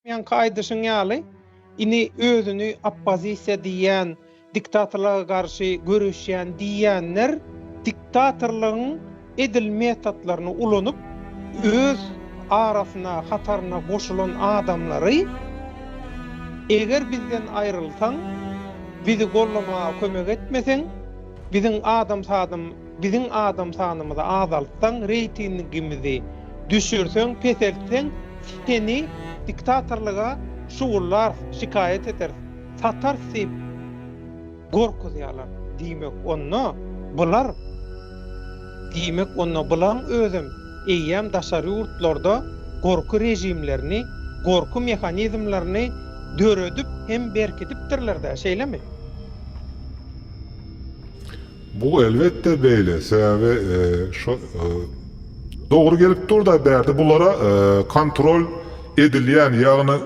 Ýaňky aýdyşyň ýaly, ini özüni oppozisiýa diýýän, diktatorlyga garşy göreşýän diýýänler diktatorlygyň edil metotlaryny ulanyp, öz arasyna, hataryna goşulan adamlary eger bizden aýrylsaň, bizi gollamaga kömek etmeseň, biziň adam-sadam Biziň adam sanymyzy azaltsaň reýtingimizi düşürseň peseltseň seni diktatorlyga şugullarys şikaýat ederis satarys diýip gorkuzýalar diýmek onda bular diýmek onda bulaň özem eýýäm daşary ýurtlarda gorky režimlerini gorky mehanizmlerini döredip hem berkidipdirlerdä şeýlemi. Bu elbetde beýle sebäbi şo dogry gelip durda bärde bulara kontrol edilýän ýagny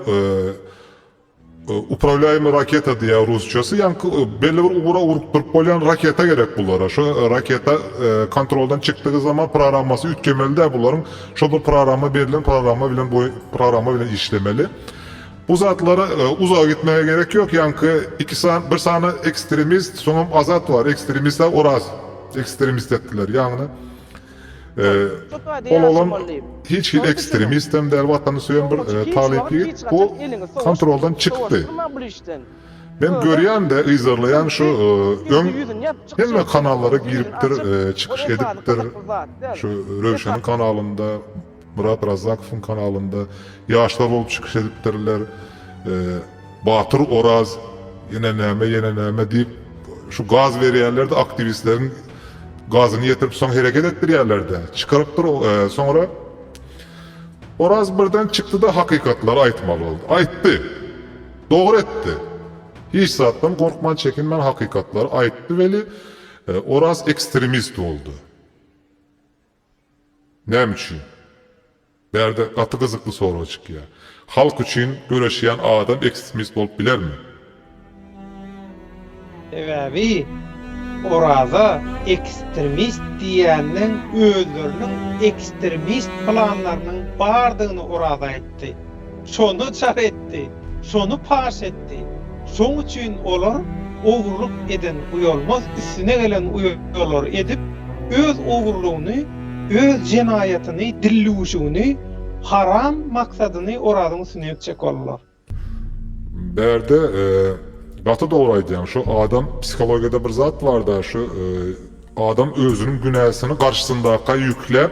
upravlýaýmy raketa diýýär rusçasy ýaňky belli bir ugra urup durup bolýan raketa gerek bulara şo raketa kontroldan çykdygy zaman programmasy üýtgemelidä bularyň şo bir programma berlen programma bilen programma bilen işlemeli Bu zatlara uzaga gitmäge gerek ýok, ýaňky iki sany, bir sany ekstremist, soňam Azat bar, ekstremist-ä Oraz ekstremist etdiler, ýagny ol oglan hiç hili ekstremist hem däl, watany söýen bir talyp ýigit, bu kontroldan çykdy. Men görýän-de, yzarlaýan şu öň hemme kanallara giripdir, çykyş edipdir, şu Röwşeniň kanalynda, Myrat Razzakowyň kanalynda ýaşlar bolup çykyş edipdirler. Batyr Oraz ýene näme ýene näme diýip şu gaz berýärlerde aktiwistleriň gazyny ýetirip soň hereket etdirýärlerde çykarypdyr soňra Oraz birden çykdyda hakykatlary aýtmaly boldy. Aýtdy. Dogry etdi. Hiç zatdan gorkman çekinmän hakykatlary aýtdy weli Oraz ekstremist boldy. Näme üçin? Bärde gaty gyzykly sorag çykýar. Halk üçin göreşýän adam ekstremist bolup bilermi? Sebäbi Oraza ekstremist diýenden özleriniň ekstremist planlarynyň bardygyny Oraza aýtdy. Şony çak etdi, şony paş etdi. Şoň üçin olar ogurlyk eden uýalmaz üstüne gelen uýalary edip, öz ogurlygyny, öz jenaýatyny, dillüwüşigini, haram maksadyny Orazyň üstüne ýükjek boldular. Bärde gaty dogry aýdýaň şu adam psihologiýada bir zat barda şu adam özüniň günäsini garşysyndakya ýükläp.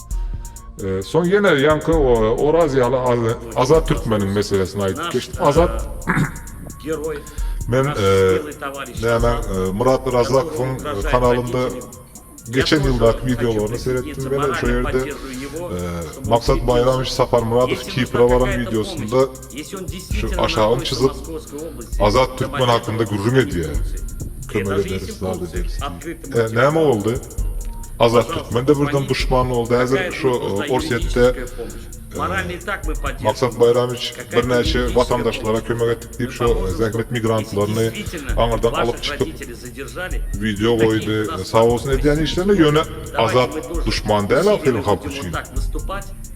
Soň ýene ýaňky Oraz ýaly Azat türkmeniň meselesini aýdyp geçdi. Azat Men nämäň Myrat Razakowyň kanalynda geçen ýyldaky wideolaryny seretdim welin şo ýerde Maksat Baýramowiç Saparmyradow Kipre baran wideosynda Şu aşagyny çyzyp, Azat Türkmen hakynda gürrüň edýär. Kömek ederis, zat ederis diýip. E, näme boldy? Azat Türkmen-de birden duşman boldy. Häzir şu Orsýetde Maksat Baýramiç birnäçe watandaşlara kömek etdik diýip, şu zähmet migrantlaryny aňyrdan alyp çykyp, wideo goýdy. Sag bolsun edýän işlerine, ýöne Azat duşman däl ahyryn halk üçin.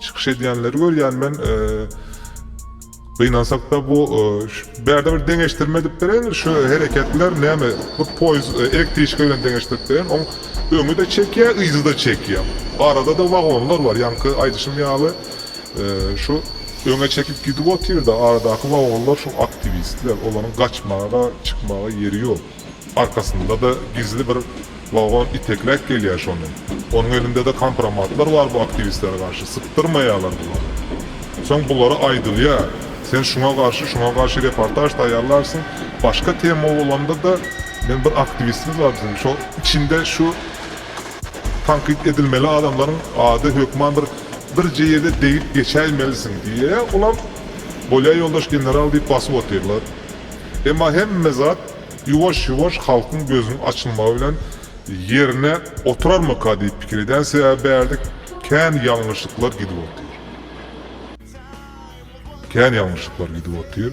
Çykyş edýänleri görýän men gynansakda bu bärde bir deňeşdirme edip bereýin şu hereketler näme hut poýuz elektriçka bilen deňeşdirip bereýin oň öňüde çekýä yzyda çekýä aradada wagonlar bar ýaňky aýdyşym ýaly şu öňe çekip gidip otyrda aradaky wagonlar şu aktiwistler olaryň gaçmaga çykmaga ýeri ýok. Arkasynda-da gizli bir wagon itekläp gelýär şony. Onuň elinde-de kompromatlar bar bu aktiwistlere garşy. Sypdyrmaýarlar bulary. Soň bulara aýdylýar, Sen şuňa garşy, şuňa garşy reportaž taýýarlarsyň. Başga tema bolanda-da, men bir aktiwistimiz bar biziň, şo içinde şu tankyt edilmeli adamlaryň ady hökman bir birje ýerde degip geçäýmelisiň diýýär. Olam, Bolýar ýoldaş general diýip basyp otyrlar. Emma hemme zat Ýuwaş-ýuwaş halkyň gözüniň açylmagy bilen ýerine oturarmyka diýip pikir edýän, sebäbi bärde kän ýalňyşlyklar gidip otyr. Kän ýalňyşlyklar gidip otyr.